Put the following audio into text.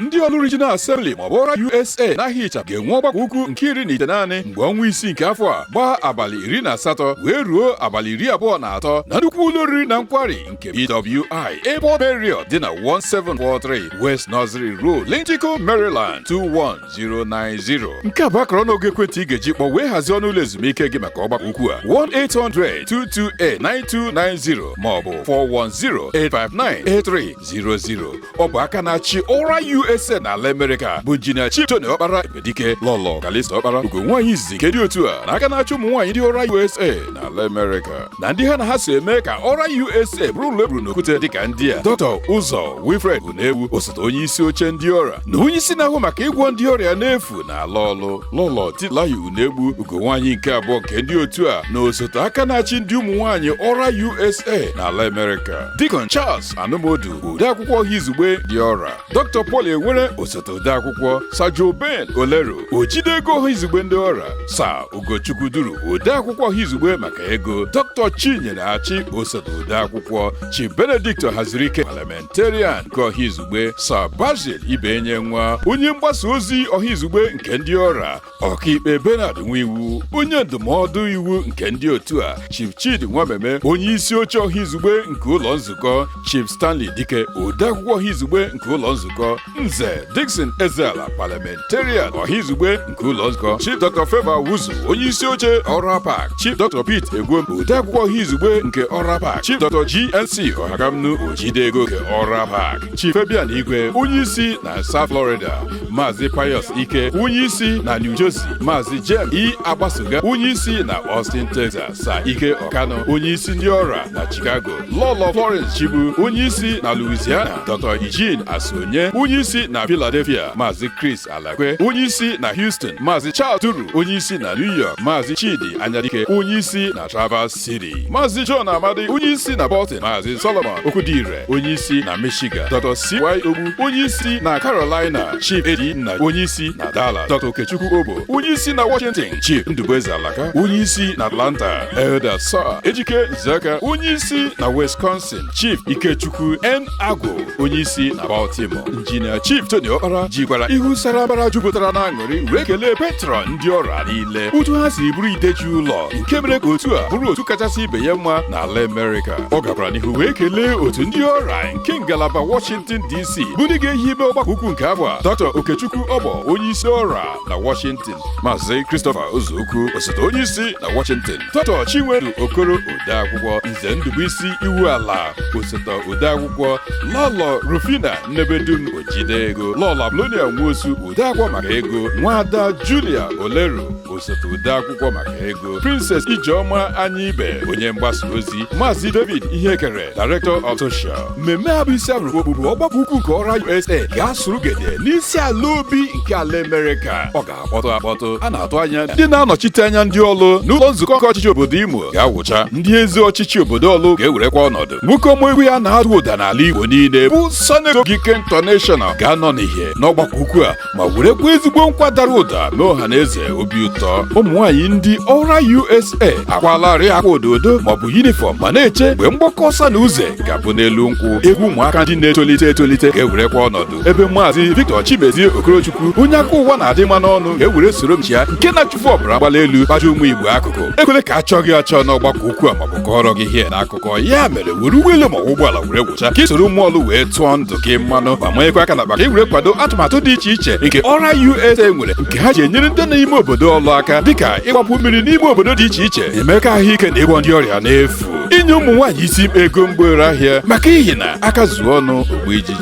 ndị Ọlụ Regional Assembly maọbụ ORA USA n'aha ịchafụ ga-enwe ọgbakọ ukwu nke iri na itenaanị mgbe ọnwa isii nke afọ a gbaa abalị iri na asatọ wee ruo abalị iri abụọ na atọ na nnukwu ụlọ oriri na nkwari nke BWI Airport Marriott dị na 1743 West Nursery Road Linthicum Maryland 21090 nke a bụ akara ọnụọgụ ekwentị ị ga-eji kpọ wee hazie ọnụ ụlọ ezumike gị maka ọgbakọ ukwu a 1-800-228-9290 maọbụ 410-859-8300 ọ bụ aka na-achị ORA USA na ala Amerịka bụ injinia Chief Tony Okpara Ebedike Lọlọ Kalista Okpara ugo nwaanyị izizi nke ndị otu a na aka na-achị ụmụ nwaanyị ndị ORA USA na ala Amerịka na ndị ha na ha so eme ka ORA USA bụrụ ụlọ e wuru n'okwute dịka ndị a Dr. Ụzọ Wilfred Unegbu osote onye isi oche ndị ORA na onye isi na-ahụ maka ịgwọ ndị ọrịa n'efu n'ala Ọlụ Lọlọ Titilayo Unegbu ugo nwaanyị nke abụọ nke ndị otu a na osote aka na-achị ndị ụmụ nwaanyị ORA USA na ala Amerịka Deacon Charles Anụmodu odeakwụkwọ ọha izugbe ndị ORA dr paul enwere osote odeakwụkwọ sa joe ben olero ojide ego ọha izugbe ndị ORA sa ugochukwu duru odeakwụkwọ ọha izugbe maka ego dr chinyere achị osote odeakwụkwọ chief benedict hazirike parliamentarian nke ọha izugbe sa basil ibenyenwa onye mgbasa ozi ọha izugbe nke ndị ORA ọkaikpe Bernard Nwiwu onye ndụmọdụ iwu nke ndị otu a Chief Chidi Nwameme onye isi oche ọha izugbe nke ụlọ nzukọ Chief Stanley Dike odeakwụkwọ ọha izugbe nke ụlọ nzukọ Nze Dickson Ezeala parliamentarian ọha izugbe nke ụlọ nzukọ Chief Dr. Favour Wuzu onye isi oche ORA PAC Chief Dr. Pete Egwem odeakwụkwọ ọha izugbe nke ORA PAC Chief Dr. GNC Ohakamnu ojide ego nke ORA PAC Chief Fabian Igwe onye isi na South Florida Maazị Pius Ike onye isi na New Jersey Maazị James E Agbasoga onye isi na Austin Texas Sa Ike Ọkanụ onye isi ndị ORA na Chicago Lọlọ Florence Chibu onye isi na Louisiana Dr. Eugene Asonye onye isi na Philadelphia Maazị Chris Alakwe onye isi na Houston Maazị Charles Duru onye isi na New York Maazị Chidi Anyadike onye isi na Traverse City Maazị John Amadi onye isi na Bolton Maazị Solomon Okwudire onye isi na Michigan Dr. C.Y. Ogbu onye isi na Carolina Chief Edi Nna onye isi na Dallas Dr. Okechukwu Obo onye isi na Washington Chief Ndubueze Alaka onye isi na Atlanta Elder Sir Ejike Nzeka onye isi na Wisconsin Captain Chief Ikechukwu N. Agwu onyeisi na Baltimore Injinia Chief Tony Okpara jikwara ihu sara mbara jupụtara na aṅụrị wee kelee patron ndị ORA niile otu ha si bụrụ ide ji ụlọ nke mere ka otu a bụrụ otu kachasị ibe ya mma n'ala Amerịka ọ gakwara n'ihu wee kelee otu ndị ORA nke ngalaba Washington DC bụ ndị ga-ehibe ọgbakọ ukwu nke afọ a Dr. Okechukwu Ọbọ onyeisi ORA na Washington Maazị Christopher Ozuokwu osote onyeisi na Washington Dr. Chinwedu Okoro odeakwụkwọ Nze Ndubuisi Iwuala osote odeakwụkwọ Lọlọ Rufina Nnebedum ojide ego Lọlọ Apolonia Nwosu odeakwụkwọ maka ego Nwada Julia Oleru osote odeakwụkwọ maka ego Princess Ijeọma Anyaibe onye mgbasa ozi Maazị David Ihekere Director of Social mmemme a bụ isi abụrụ okpukpu ọgbakọ ukwu nke ORA USA ga-asụrụ gede n'isi ala obi nke ala Amerịka ọ ga akpọtụ akpọtụ a na-atụ anya ndị na-anọchite anya ndị Ọlụ n'ụlọ nzukọ nke ọchịchị obodo Imo ga-awụcha ndị isi ọchịchị obodo Ọlụ ga-ewerekwa ọnọdụ nwoke ọma egwu ya na-ada ụda n'ala Igbo niile bụ Senator Ogike International ga-anọ n'ihe n'ọgbakọ ukwu a ma werekwa ezigbo nkwa dara ụda mee ọha na eze obi ụtọ ụmụ nwaanyị ndị ORA USA akwalarị akwa ododo maọbụ yunifọm ma na-eche mgbe mgbakọ ọsa na uze ga-abụ n'elu nkwụ egwu ụmụaka ndị na-etolite etolite ga-ewerekwa ọnọdụ ebe maazị Victor Chimezie Okorochukwu onye aka ụwa na-adị mma n'ọnụ ga-ewere soro m chịa nke na-achụfu ọbara mgbali elu kpaja ụmụ Igbo akụkụ ekwele ka a chọọ gị achọ n'ọgbakọ ukwu a maọbụ kọọrọ gị ihe n'akụkọ ya mere were ụgbọelu maọbụ ụgbọala were wụcha ka i soro ụmụ Ọlụ wee tụọ ndụ gị mmanụ ma manyekwa aka n'akpa ka e were kwado atụmatụ dị iche iche nke ORA USA nwere nke ha ji enyere ndị na ime obodo Ọlụ aka dịka ịgbapụ mmiri n'ime obodo dị iche iche emeka ahụike na ịgwọ ndị ọrịa n'efu inye ụmụ nwaanyị isi ego mgbere ahịa maka ihi na aka zuo ọnụ o gbuo ijiji